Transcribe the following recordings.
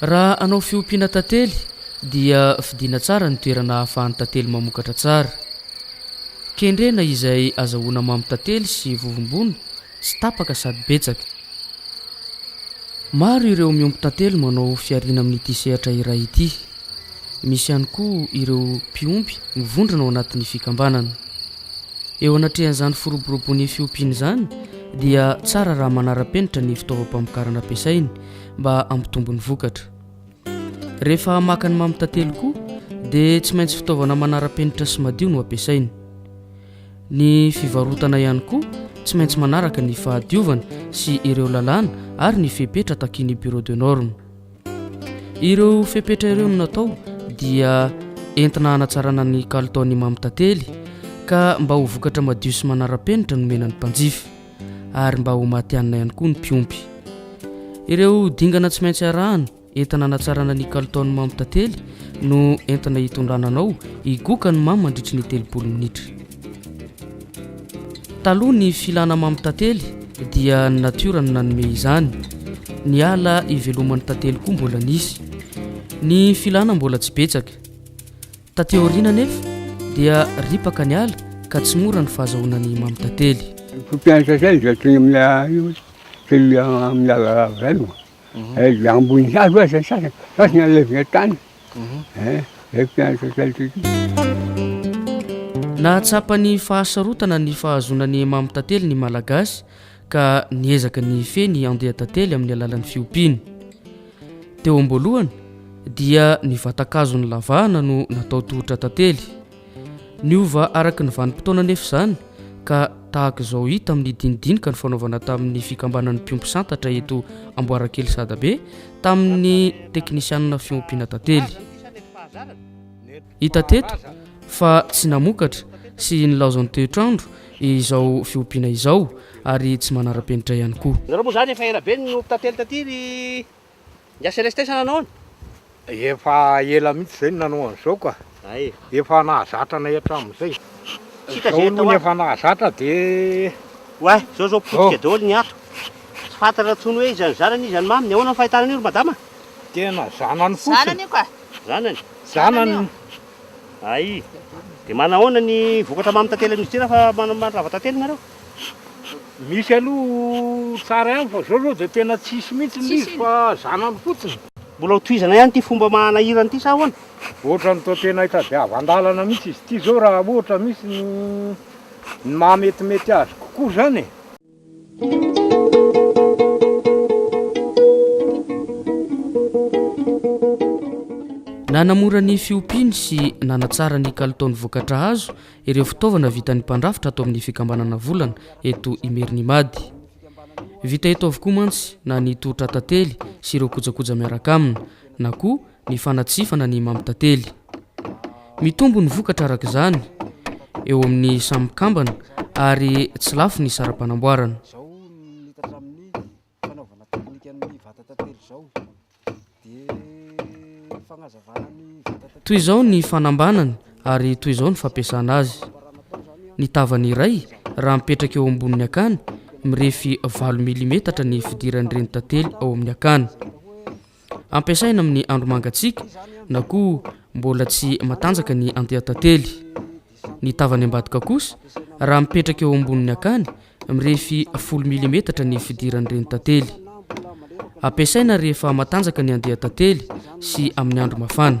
Raha hanao fiompiana tantely dia fidiana tsara ny toerana ahafahan'ny tantely mamokatra tsara. Kendrena izay azahoana mamo tantely sy vovombona tsy tapaka sady betsaka. Maro ireo miompy tantely manao fihariana amin'ity sehatra iray ity. Misy ihany koa ireo mpiompy mivondrona ao anatin'ny fikambanana. Eo anatrehan'izany firoborobon'ny fiompiana izany dia tsara raha manara-penitra ny fitaovam-pamokarana ampiasainy mba hampitombo ny vokatra. Rehefa maka ny mamy tantely koa dia tsy maintsy fitaovana manara-penitra sy madio no ampiasaina. Ny fivarotana ihany koa tsy maintsy manaraka ny fahadiovana sy ireo lalàna ary ny fepetra takin'ny Bureau de norme. Ireo fepetra ireo no natao dia entina hanatsarana ny kalitaon'ny mamy tantely ka mba ho vokatra madio sy manara-penitra no mena ny mpanjifa. ary mba ho matihanina ihany koa ny mpiompy. Ireo dingana tsy maintsy arahana entina hanatsarana ny kalitaon'ny mamo tantely no entina hitondrana anao higoka ny mamo mandritry ny telopolo minitra. Taloha ny filana mamo tantely dia ny natiora no nanome izany. Ny ala iveloman'ny tantely koa mbola nisy. Ny filana mbola tsy betsaka. Taty aoriana anefa dia ripaka ny ala ka tsy mora ny fahazahoana ny mamy tantely. Mpianatra izay izay teny amin'ilay io teny amin'ny ala rava izay no eh, dia ambony hazo aza ny sasany fa tsy nalevina tany eh, izay mpianatra izay tety. Nahatsapa ny fahasarotana ny fahazoana ny mamy tantely ny Malagasy ka niezaka ny hifehy ny andian-tantely amin'ny alalan'ny fiompiany. Teo am-boalohany dia ny vatan-kazon'ny lavahana no natao tohotra tantely. Niova araka ny vanim-potoana anefa izany ka tahaka izao hita amin'ny dinidinika nifanaovana tamin'ny fikambanan'ny mpiompy santatra eto Amboarakely Sadabe tamin'ny teknisianina fiompiana tantely. Hita teto fa tsy namokatra sy nilaozan'ny toetr'andro izao fiompiana izao ary tsy manara-penitra ihany koa. Nareo moa zany efa ela be no tantely taty ry Ngia sy Reste sa nanao an? Efa ela mihitsy zay no nanao an'izao ka. Efa nahazatra anay hatramin'izay. Izao aloha ny efa nahazatra dia. Oay, zao zao potika daholo ny ato. Tsy fantatra tsony hoe iza no zanany iza no maminy, ahoana ny fahitana an'io ry madama? Tena zanany fotsiny. Zanany io ka. Zanany? Zanany ay de manahoana ny vokatra mamy tantely amin'izy ity rafa mandrava tantely nareo? Misy aloha tsara ihany fa zao zao de tena tsisy mihitsy ny izy fa zanany fotsiny. Mbola ho tohizana ihany ity fomba manahirana ity sa ahoana? Ohatrany toa tena hitadiavan-dalana mihitsy izy ity zao raha ohatra misy ny maha metimety azy kokoa zany e! Nanamora ny fiompiany sy nanatsara ny kalitaon'ny vokatra azo ireo fitaovana vitan'ny mpandrafitra ato amin'ny fikambanana volana eto Imerinimady. Vita eto avokoa mantsy na ny tohotra tantely sy ireo kojakoja miaraka aminy na koa ny fanatsifana ny mampitantely. Mitombo ny vokatra araka izany eo amin'ny samy mpikambana ary tsy lafo ny saram-panamboarana. Izao ny tatramin'ny fanaovana teknikan'ny vata tantely izao dia fagnazavana ny vata tantely. Toy izao ny fanambanany ary toy izao ny fampiasana azy. Ny tavany iray raha mipetraka eo ambonin'ny akany mirefy valo milimetatra ny fidiran'ireny tantely ao amin'ny akany. ampiasaina amin'ny andro mangatsiaka na koa mbola tsy matanjaka ny andian-tantely. Ny tavany ambadika kosa, raha mipetraka eo ambonin'ny akany, mirefy folo milimetatra ny fidiran'ireny tantely. Ampiasaina rehefa matanjaka ny andian-tantely sy amin'ny andro mafana.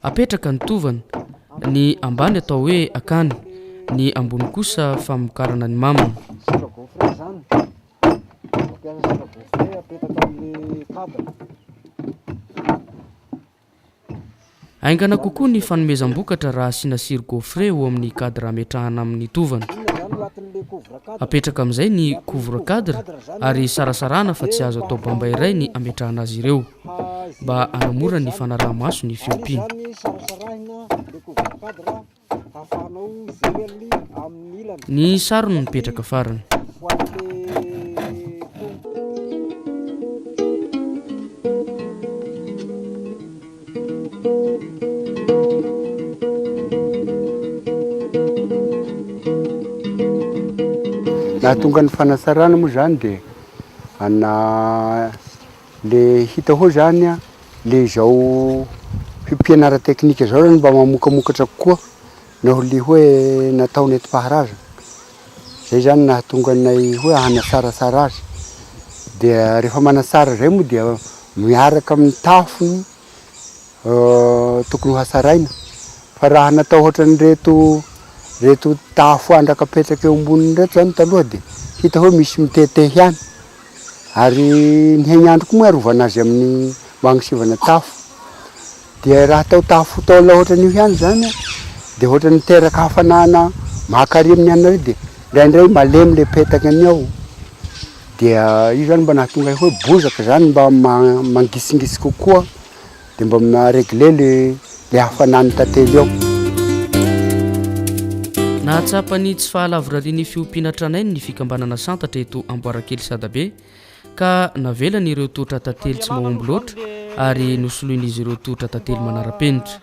Apetraka ny tovana, ny ambany atao hoe akany, ny ambony kosa famokarana ny maminy. Sira gaufre izany. Mampiasa sira gaufre apetraka amin'ny kabana. Haingana kokoa ny fanomezam-bokatra raha asiana sira gaufre eo amin'ny cadre ametrahana amin'ny tovana. Apetraka amin'izay ny couvre cadre ary sarasarahana fa tsy azo atao bamba iray ny ametrahana azy ireo. mba hanamora ny fanaraha-maso ny fiompiana. Ny sarony mipetraka farany. Nahatonga ny fanasarana moa izany dia ana Le hita hao zany a, le izao fipianara teknika zao zany mba mamokamokatra kokoa naho le hoe natao nentim-paharazana. Zay zany nahatonga anay hoe hanasaratsara azy. Dia refa manatsara zay moa dia miaraka amin'ny tafony tokony ho hasaraina fa raha natao ohatran'ireto reto tafo andraka apetraka eo amboniny ireto zany taloha de hita hoe misy mitete ihany ary ny haignandro koa moa arovana azy amin'ny mba agnisivana tafo dia raha atao tafo taola ohatran'io ihany zany de ohatra niteraka hafanana maka ary amin'ny anareo de ndraindray malemy le petaka ny ao Dia io zany mba nahatonga ahy hoe bozaka zany mba mangitsingitsy kokoa dia mba ma regler le le hafanan'ny tantely ao. Nahatsapa ny tsy fahalavorarian'ny fiompiana tranainy ny fikambanana Santatra eto Amboarakely Sadabe ka navelany ireo tohotra tantely tsy mahomby loatra ary nosoloin'izy ireo tohotra tantely manara-penitra.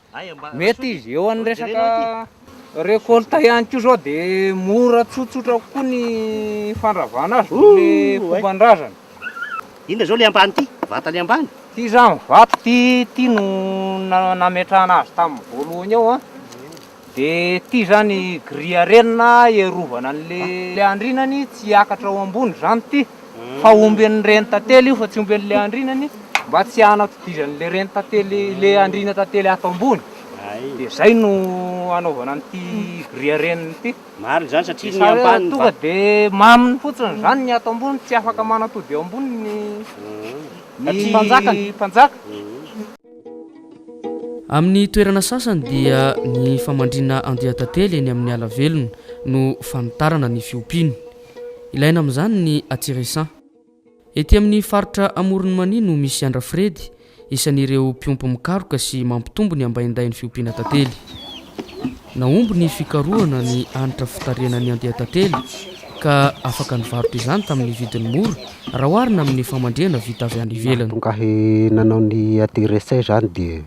Mety izy, eo an'ny resaka récolte ihany koa zao de mora tsotsotra kokoa ny fandravana azy noho le fomban-drazana. Inona zao le ambany ty? Vata le ambany? Ty zany vato ty, ty no nametrahana azy tamin'ny voalohany eo an, de ty zany grille renina hiarovana an'le andrinany tsy hiakatra ao ambony zany ty. fa omby an'ny reny tantely io fa tsy omby an'ilay andrinany mba tsy hanatodizan'ilay reny tantely ilay andriana tantely ato ambony dia zay no anaovana an'ity gria reniny ity marina zany satria ny ambany tonga dia maminy fotsiny zany ny ato ambony tsy afaka manatody eo ambony ny ny mpanjaka ny mpanjaka amin'ny toerana sasany dia ny famandrina andian-tantely eny amin'ny ala velona no fanitarana ny fiompiany Ilaina amin'izany ny Atsirisan. Ety amin'ny faritra Amoron'i Mania no misy Andrafiredy, isan'ireo mpiompy mikaroka sy mampitombo ny ambaindain'ny fiompiana tantely. Nahomby ny fikarohana ny hanitra fitarihana ny andian-tantely ka afaka nivarotra izany tamin'ny vidiny mora raha oharina amin'ny famandrihana vita avy any ivelany. Mahatonga ahy nanao ny Atsirisan izany dia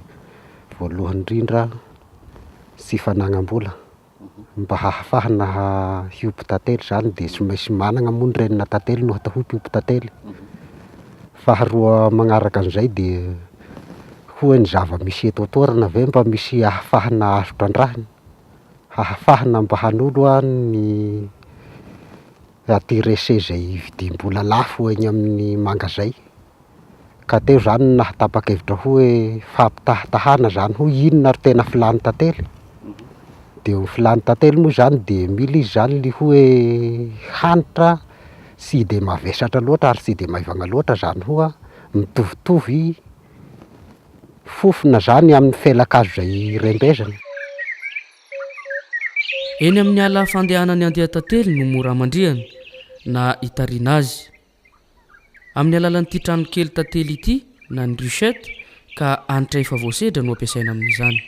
voalohany indrindra tsy fanagnam-bola. Ny mba hahafahana hiompy tantely izany dia tsy maintsy manana moa ny renina tantely no atao hoe mpiompy tantely. Faharoa manaraka an'izay dia hoy ny zava-misy eto an-toerana ve mba misy ahafahana azo trandrahina, hahafahana mba hanolo an ny intéressé izay vidim-bola lafo eny amin'ny mangazay Ka teo izany no nahatapa-kevitra hoe fampitahatahana izany hoy inona ary tena filàn'i tantely? Dia ny filàn'i tantely moa izany dia mila izy izany ny hoe hanitra tsy dia mavesatra loatra ary tsy dia maivagna loatra izany hoa mitovitovy fofona izany amin'ny felan-kazo izay rembezina. Eny amin'ny ala fandehanan'ny andian-tantely no mora hamandrihana na hitarina azy. Amin'ny alalan'ity tranokely tantely ity na ny ruchette ka hanitra efa voasedra no ampiasaina amin'izany.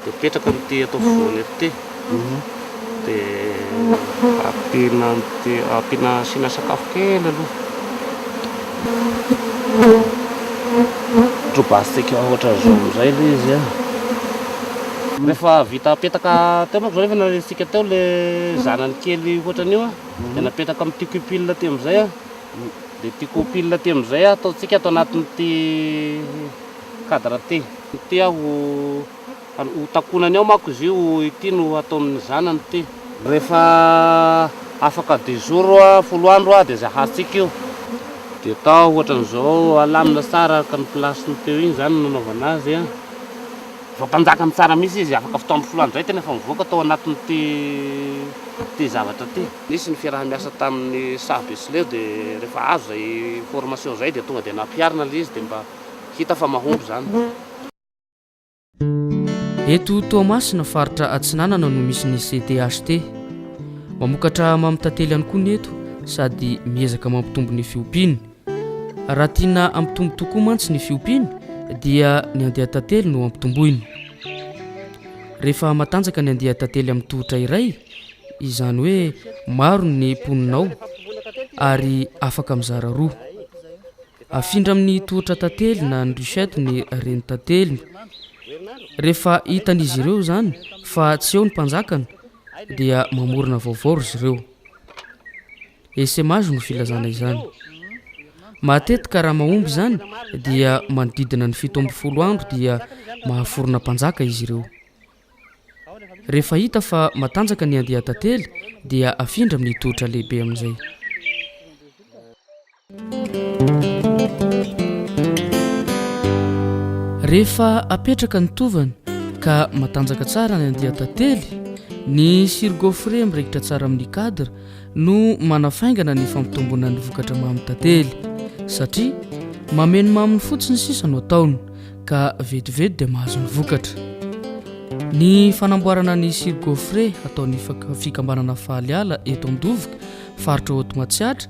dia mipetraka amin'ity ato afovoany ity mhm. dia ampiana ampiana asiana sakafo kely aloha drobastika ohatra zao amizay le izy a rehefa vita apetaka teo manko zao rehefa naresitsika teo le zanany kely ohatran'io a mhm. dia napetraka amin'ny tiko pile ty amizay a mhm. dia tiko pile ty amizay ataontsika ato anatin'ity cadre ty. Ity aho ho takonany ao manko izy io, ity no hataon'ny zanany ty. Rehefa afaka dix jours, folo andro, dia izay hahatsiaka io. Dia atao ohatran'izao, alamina tsara araka ny place-ny teo iny izany no nanaovana azy an. Vao tanjakany tsara mihitsy izy, afaka fotoana folo andro izay tena efa mivoaka tao anatin'ity zavatra ity. Nisy ny fiaraha-miasa tamin'ny saha be sy leo dia rehefa azo izay formation izay dia tonga dia nampiharina ilay izy dia mba. Hita fa mahomby izany. Eto Toamasina faritra Atsinanana no misy ny CTHT. Mamokatra mamy tantely ihany koa ny eto sady miezaka mampitombo ny fiompiany. Raha tiana hampitombo tokoa mantsy ny fiompiany dia ny andia tantely no hampitomboina. Rehefa matanjaka ny andia tantely amin'ny tohotra iray, izany hoe maro ny mponina ao ary afaka mizara roa. Afindra amin'ny tohotra tantely na ny ruchette ny renin-tanteliny. Rehefa hitan'izy ireo izany fa tsy eo ny mpanjakany dia mamorona vaovao ry zireo. Essaimage no filazana izany. Matetika raha mahomby izany dia manodidina ny fito amby folo andro dia mahaforona mpanjaka izy ireo. Rehefa hita fa matanjaka ny andian-tantely dia afindra amin'ny tohotra lehibe amin'izay. Rehefa apetraka ny tovana ka matanjaka tsara ny andian-tantely, ny sirgofre miraikitra tsara amin'ny cadre no manafaingana ny fampitomboana ny vokatra mamin'ny tantely satria mameno maminy fotsiny sisa no ataony ka vetivety dia mahazo ny vokatra. Ny fanamboarana ny sirgofre ataon'ny fikambanana Faly Ala eto Andovoka, faritra Haute Matsiatra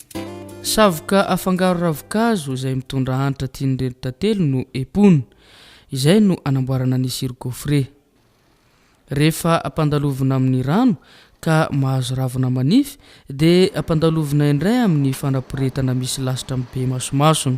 Savoka afangaro ravin-kazo izay mitondra hanitra tian'ireto tantely no epona. Izay no anamboarana ny sirop gaufre. Rehefa ampandalovina amin'ny rano ka mahazo ravina manify dia ampandalovina indray amin'ny fanaporetana misy lasitra mibe masomasony.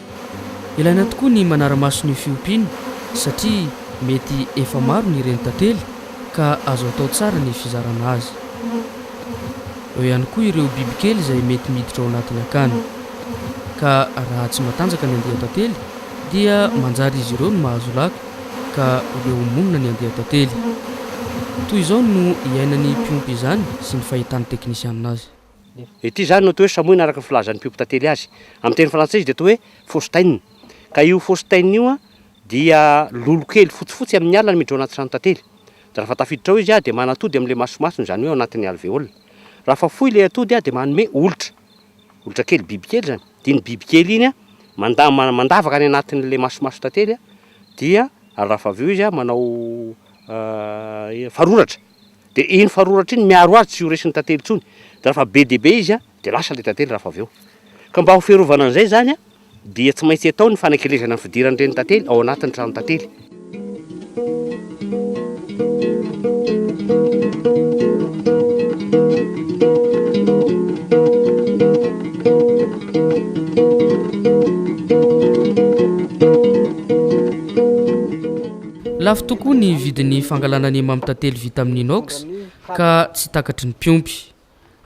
Ilaina tokoa ny manara-maso ny fiompiana satria mety efa maro ny reny tantely ka azo atao tsara ny fizarana azy. Eo ihany koa ireo bibikely izay mety miditra ao anatin'ny akany ka raha tsy matanjaka ny andian-tantely dia manjary izy ireo no mahazo laka ka leo monina ny andian-tantely. Toy izao no iainan'ny mpiompy izany sy ny fahitan'ny teknisianina azy. Ity izany no atao hoe samoina araka ny filazan'ny mpiompy tantely azy. Amin'ny teny frantsay izy dia atao hoe faustaine. Ka io faustaine io dia lolo kely fotsifotsy amin'ny alina miditra ao anaty trano tantely. Dia raha fa tafiditra ao izy dia manatody amin'ilay masomasony, izany hoe ao anatin'ny alvéole. Raha fa fohy ilay atody dia manome olitra. Olitra kely, bibikely izany. Dia iny bibikely iny manda- mandavaka any anatin'ilay masomason'ny tantely dia raha fa avy eo izy manao faroratra. dia iny faroratry iny miaro azy tsy ho resin'ny tantely intsony, dia raha fa be dia be izy dia lasa ilay tantely raha fa avy eo. Ka mba ho fiarovana an'izay izany dia tsy maintsy atao ny fanakelezana ny fidiran'ireny tantely ao anatin'ny tranon-tantely. Lafo tokoa ny vidin'ny fangalana ny mamy tantely vita amin'ny inox ka tsy takatry ny mpiompy.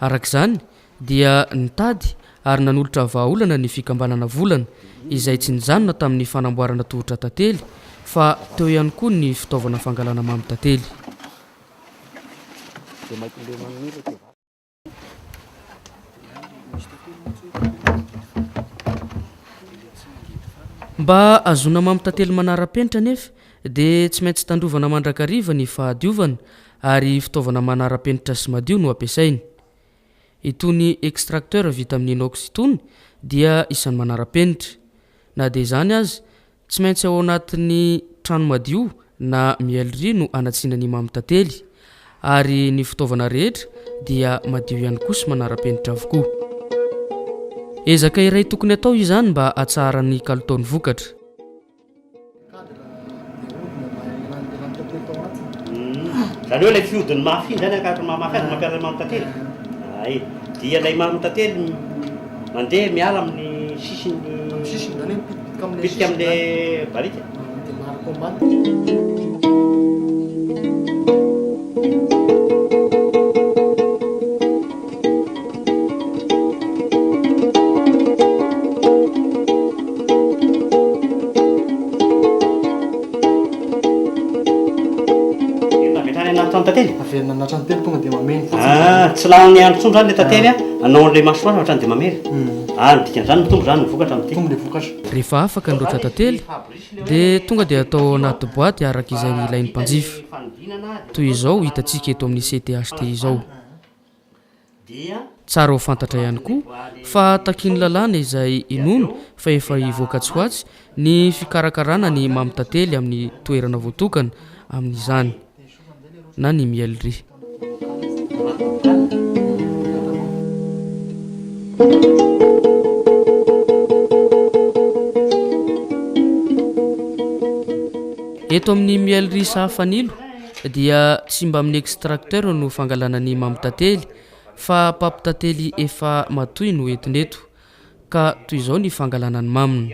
Araka izany dia nitady ary nanolotra vahaolana ny fikambanana Volana izay tsy nijanona tamin'ny fanamboarana tohotra tantely fa teo ihany koa ny fitaovana fangalana mamy tantely. Mba hahazoana mamy tantely manara-penitra anefa dia tsy maintsy tandrovana mandrakariva ny fahadiovana ary fitaovana manara-penitra sy madio no ampiasaina. Itony extracteurs vita amin'ny inox itony dia isan'ny manara-penitra. Na dia izany aza Tsy maintsy ao anatin'ny trano madio na mieliria no anatsiana ny mamy tantely, ary ny fitaovana rehetra dia madio ihany koa sy manara-penitra avokoa. Ezaka iray tokony atao izany mba hatsaharan'ny kalitao ny vokatra. Izany hoe ilay fihodin'ny mafy iny izany ankahatriny maha mafy azy no mampiasa ny mamy tantely? Ay. Dia ilay mamy tantely mandeha miala amin'ny sisiny. Bitika amle barika. Tsy lany andro intsony zany le tantely a, anao an'ilay masoandro hatrany dia mamely. Ary ny dikan'izany, mitombo izany ny vokatra amin'ity. Rehefa afaka ny roatra tantely, dia tonga dia atao ao anaty boaty araka izay ilain'ny mpanjifa. Toy izao hitantsika eto amin'ny CTHT izao. Tsara ho fantatra ihany koa fa takian'ny lalàna izay inoana fa efa hivoaka tsy ho atsy ny fikarakarana ny mamy tantely amin'ny toerana voatokana amin'izany. na ny miel ry. Eto amin'ny miel ry saha fanilo dia tsy mba amin'ny extracteur no fangalana ny mampitantely fa mpampitantely efa matoy no entina eto ka toy izao ny fangalana ny maminy.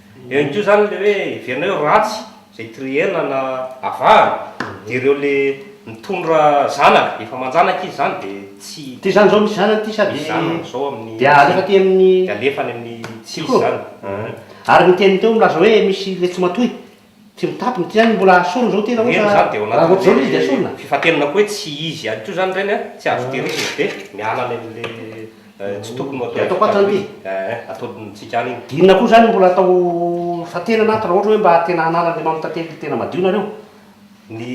Eo ihany koa izany ilay hoe heverina hoe ratsy izay terena na avahana, dia ireo ilay mitondra zanaka, efa aman-janaka izy izany dia tsy. Ity izany izao misy zanany ity sa dia. Zanany izao amin'ny. Dia alefa aty amin'ny. Dia alefa any amin'ny tsy izy izany. Ary ny teniny teo milaza hoe misy ilay tsy matoy. Tsy mitapy ny tiany mbola asorina izao tena ohatra Eny zany dia ao raha ohatra izao ilay izy dia anatin'ilay asorina. fifantenana koa hoe tsy izy ihany koa izany ireny a, tsy azo tehirizina dia miala any amin'ilay tsy tokony ho atao Dia ataoko ato izany ity. Ee, ataontsika any iny. Dia inona koa izany mbola atao fifantenana ato raha ohatra hoe mba tena hanalan'Andriamanitra Tantely tena madio nareo? Ny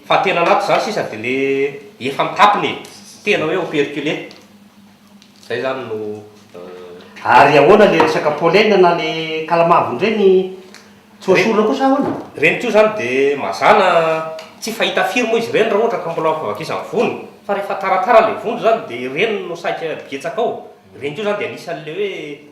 fifantenana ato izany sisa dia ilay efa mitapy ny e, tsy tena hoe operculé. Zay zany no euh. Ary ahoana le resaka pollen na le kalamavony reny tsy ho esorina koa sa ahoana? Reny koa zany de mazana tsy fahita firy moa izy ireny raha ohatra ka mbola ao fivakisany vony fa rehefa taratara le vondro zany de reny no saika betsaka ao, reny koa zany de anisan'le hoe.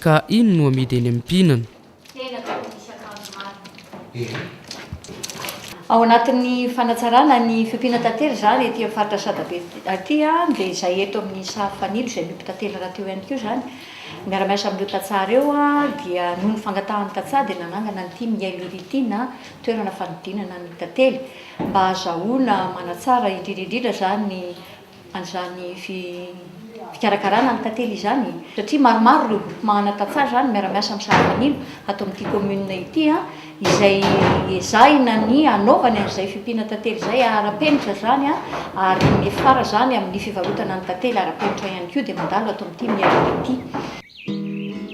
Ka iny no amidy eny amim-pihinana. Tena tsy ho misy akanjo marina. Ao anatin'ny fanatsarana ny fiompiana tantely izany ety amin'ny faritra Sadabe ity dia izay eto amin'ny sary fanilo izay miompy tantely rahateo ihany koa izany. Miara-miasa amin'ireo tantsaha ireo dia noho ny fangatahan'ny tantsaha dia nanangana an'ity Miailo Iry ity na toerana fanodinana ny tantely mba hahazahoana manatsara indrindra indrindra izany ny an'izany fikarakarana ny tantely izany satria maromaro ireo groupement ana tantsaha izany miara-miasa amin'ny sara-manilo ato amin'ity commune ity an, izay ezahina ny hanaovany an'izay fiompiana tantely izay ara-penitra izany an, ary miafara izany amin'ny fivarotana ny tantely ara-penitra ihany koa dia mandalo ato amin'ity miaina ity.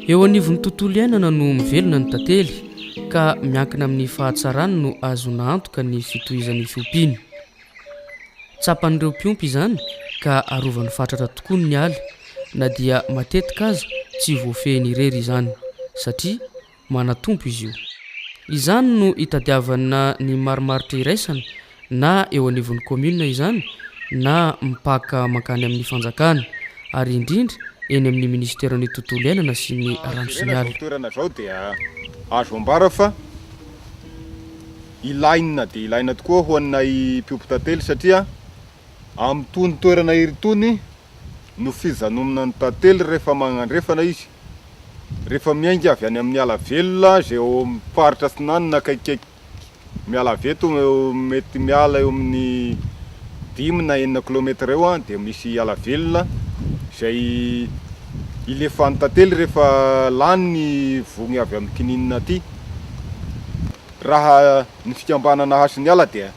Eo anivon'ny tontolo iainana no mivelona ny tantely ka miankina amin'ny fahatsarany no ahazoana antoka ny fitohizan'ny fiompiany. Tsapan'ireo mpiompy izany ka arovany fatratra tokoa ny ala, na dia matetika aza tsy voafehiny irery izany, satria manatompo izy io. Izany no itadiavana ny marimaritra iraisana na eo anivon'ny kaominina izany na mpaka mankany amin'ny fanjakana, ary indrindra eny amin'ny minisiteran'ny tontolo iainana sy ny rano sy ny ala. ilaina dia ilaina tokoa ho anay mpiompy tantely satria amin'itony toerana iry itony no fijanonana ny tantely rehefa magnandrefana izy, rehefa miainga avy any amin'ny ala velona izay ao amin'ny faritra atsinanana akaikikaiky miala avy eto mety miala eo amin'ny dimy na enina kilaometatra eo dia misy ala velona izay ilefan'ny tantely rehefa lany ny vogny avy amin'ny kininina aty. Raha ny fikambanana Hasiniala dia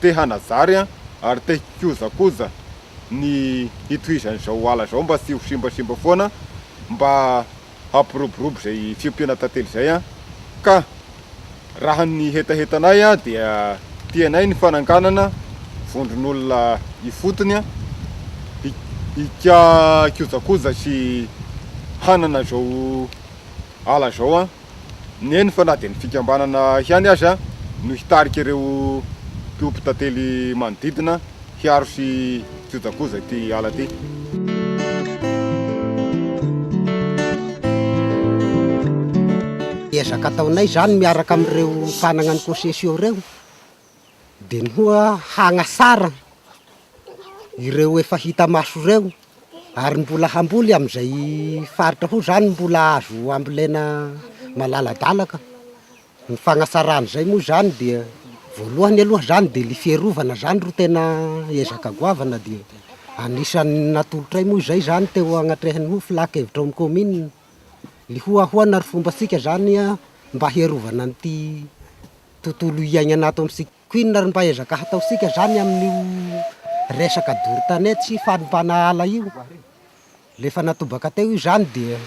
te hanajary ary te hikojakoja ny hitohizan'izao ala izao mba tsy ho simbasimba foana mba hampiroborobo izay fiompiana tantely izay ka raha ny hetahetanay dia tianay ny fananganana vondron'olona ifotony hikojakoja sy hanana izao ala izao. ny eny fa na dia ny fikambanana ihany aza no hitarika ireo mpiompy tantely manodidina hiaro sy hikojakoja ity ala ity. Ezaka ataonay izany miaraka amin'ireo mpanana ny COSESIO ireo. dia ny hoa hagnasarana ireo efa hita maso ireo ary mbola hamboly amin'izay faritra hoa zany mbola azo ambolena malaladalaka, ny fagnasarana izay moa zany dia voalohany aloha zany dia ny fiarovana zany ro tena ezaka goavana dia anisan'ny natolotray moa izay zany teo anatrehan'ny hoa filan-kevitra ao amin'ny kaominina ny hoa ahoana ro fombantsika zany mba hiarovana an'ity tontolo hiaignana ato amintsika. Koa inona ary mba ezaka hataontsika zany amin'io resaka doro tanety sy fanompana ala io? Rehefa natobaka teo io zany dia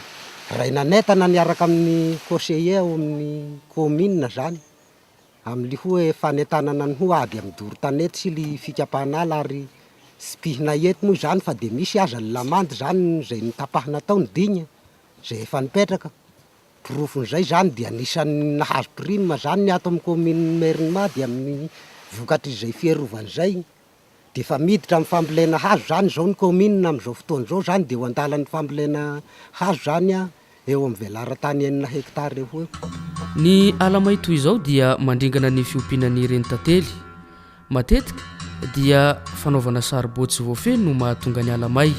ray nanentana niaraka amin'ny conseiller ao amin'ny commune zany amin'ny hoe fanentanana ny hoe ady amin'ny doro tanety sy ny fikapana ala ary tsy mpihina eto moa zany fa dia misy aza ny lamandy zany izay notapahina tao ny digne izay efa nipetraka. Porofon'izay izany dia anisan'ny nahazo prime izany ny ato amin'ny kaominin'i Merinima dia amin'ny vokatr'izay fiarovana izay dia efa miditra amin'ny fambolena hazo izany izao ny kaominina amin'izao fotoana izao izany dia eo an-dalan'ny fambolena hazo izany eo amin'ny velaran-tany enina hectare eo ho eo. Ny ala may toy izao dia mandringana ny fiompiana ny renitantely. Matetika dia fanaovana saribao tsy voafehy no mahatonga ny ala may.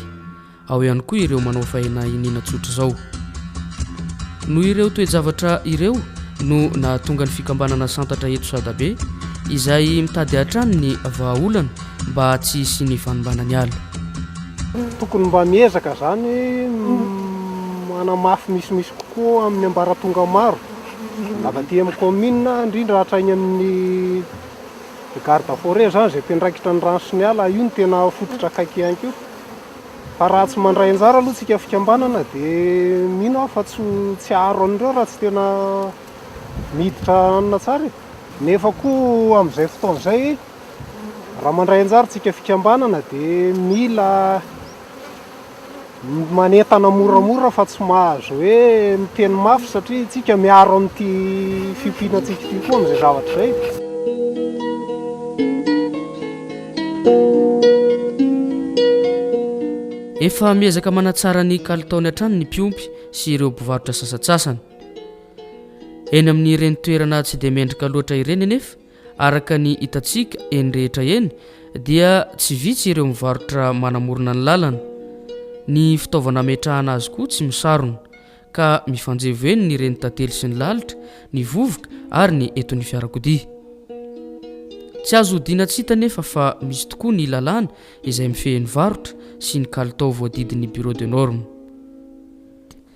Ao ihany koa ireo manao faena iniana tsotra izao. Noho ireo toe-javatra ireo no nahatonga ny fikambanana Santatra eto Sadabe izay mitady hatrany ny vahaolana mba tsy hisian'ny fanimbana ny ala. Tokony mba miezaka izany manamafy misimisy kokoa amin'ny ambaratonga maro avy aty amin'ny kaominina indrindra hatrany amin'ny Ny garde forêt izany izay mpiandraikitra ny rano sy ny ala, io no tena fototra akaiky ihany koa. Fa raha tsy mandray anjara aloha tsika fikambanana dia mino aho fa tsy tsy haharo an'ireo raha tsy tena miditra hanina tsara e. Nefa koa amin'izay fotoana izay raha mandray anjara tsika fikambanana dia mila manentana moramora fa tsy mahazo hoe miteny mafy satria isika miaro amin'ity fiompiana antsika ity koa amin'izay zavatra izay. Efa miezaka manatsara ny kalitaony hatrany ny mpiompy sy ireo mpivarotra sasatsasany. Eny amin'ireny toerana tsy dia mendrika loatra ireny anefa Araka ny hitantsika eny rehetra eny dia tsy vitsy ireo mivarotra manamorona ny lalana. Ny fitaovana ametrahana azy koa tsy misarona ka mifanjevo eny ny reny tantely sy ny lalitra, ny vovoka ary ny eto ny fiarakodia. Tsy azo hodiana tsy hita nefa fa misy tokoa ny lalàna izay mifehy ny varotra sy ny kalitao voadidin'ny Bureau de normes.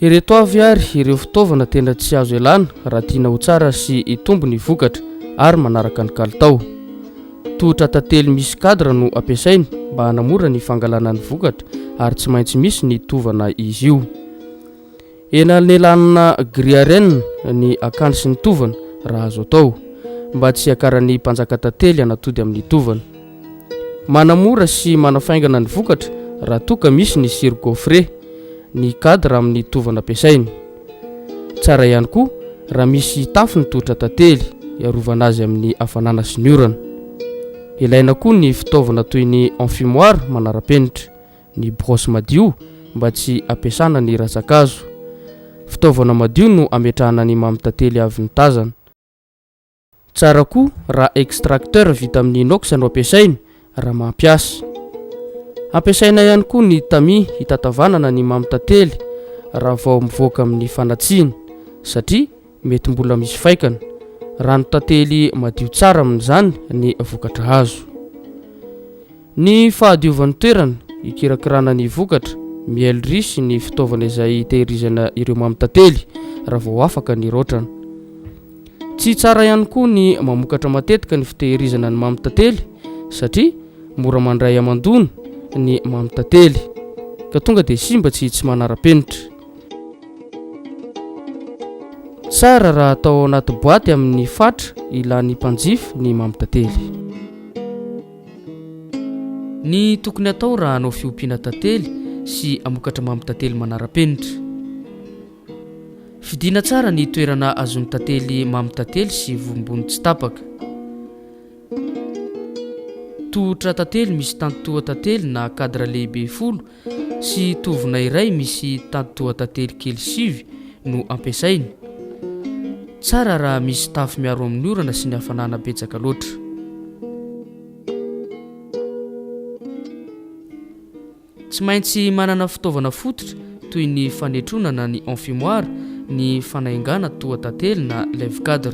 Ireto avy ary ireo fitaovana tena tsy azo ialana raha tiana ho tsara sy hitombo ny vokatra ary manaraka ny kalitao. Tohotra tantely misy cadre no ampiasainy mba hanamora ny fangalana ny vokatra ary tsy maintsy misy ny tovana izy io. Enanelanina gris à renne ny akany sy ny tovana raha azo atao, mba tsy hiakaran'ny mpanjaka tantely hanatody amin'ny tovana. Manamora sy manafaingana ny vokatra raha toa ka misy ny siro gaufré, ny cadre amin'ny tovana ampiasaina. Tsara ihany koa raha misy tafo ny tohotra tantely hiarovana azy amin'ny hafanana sy ny orana. Ilaina koa ny fitaovana toy ny enfumoir manara-penitra, ny brosse madio mba tsy hampiasana ny ratsa-kazo. Fitaovana madio no ametrahana ny mamy tantely avy notazana. Tsara koa raha extracteur vita amin'ny inox no ampiasaina raha mampiasa. Ampiasaina ihany koa ny tamis hitatavanana ny mamy tantely raha vao mivoaka amin'ny fanatsiana satria mety mbola misy faikana. Rano tantely madio tsara amin'izany ny vokatra azo. Ny fahadiovan'ny toerana hikirakirana ny vokatra, mielery sy ny fitaovana izay hitehirizana ireo mamy tantely raha vao afaka ny raotrana. Tsy tsara ihany koa ny mamokatra matetika ny fitehirizana ny mamy tantely satria mora mandray hamandoana ny mamy tantely ka tonga dia simba tsy tsy manara-penitra. Tsara raha atao ao anaty boaty amin'ny fatra ilan'ny mpanjifa ny mamy tantely. Ny tokony atao raha hanao fiompiana tantely sy hamokatra mamy tantely manara-penitra. Fidiana tsara ny toerana azon'ny tantely mamy tantely sy vombony tsy tapaka. Tohotra tantely misy tantotoa tantely na cadre lehibe folo sy tovona iray misy tantotoa tantely kely sivy no ampiasaina. Tsara raha misy tafo miaro amin'ny orana sy ny hafanana betsaka loatra. Tsy maintsy manana fitaovana fototra toy ny fanetrona na ny enfumoir ny fanaingana toa tantely na lève cadre.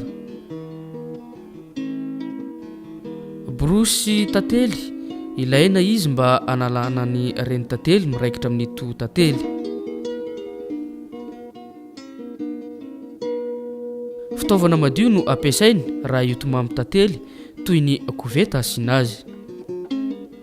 Borosy tantely, ilaina izy mba hanalana ny reny tantely miraikitra amin'ny toa tantely. Fitaovana madio no ampiasaina raha hiotomamy tantely toy ny koveta asiana azy.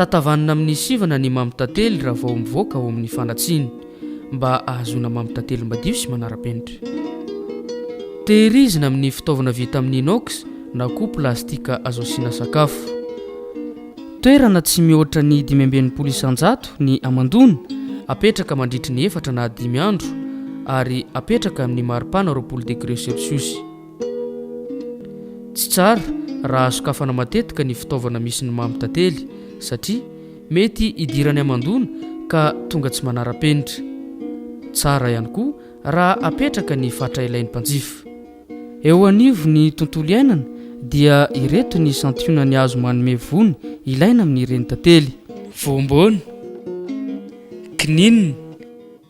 Tatavanina amin'ny sivana ny mamy tantely raha vao mivoaka ao amin'ny fandatsiny mba ahazoana mamy tantely madio sy manara-penitra. Tehirizina amin'ny fitaovana vita amin'ny inox na koa plastika azo asiana sakafo. Toerana tsy mihoatra ny dimy amby enimpolo isan-jato ny hamandoana, apetraka mandritry ny efatra na dimy andro ary apetraka amin'ny maripana roapolo degre sersiosy. Tsy tsara raha hasokafana matetika ny fitaovana misy ny mamy tantely satria mety hidirany hamandoana ka tonga tsy manara-penitra. Tsara ihany koa raha apetraka ny fatra ilain'ny mpanjifa. Eo anivon'ny tontolo iainana dia ireto ny santionany azo manome voany ilaina amin'ireny tantely. Voambona. Kininina.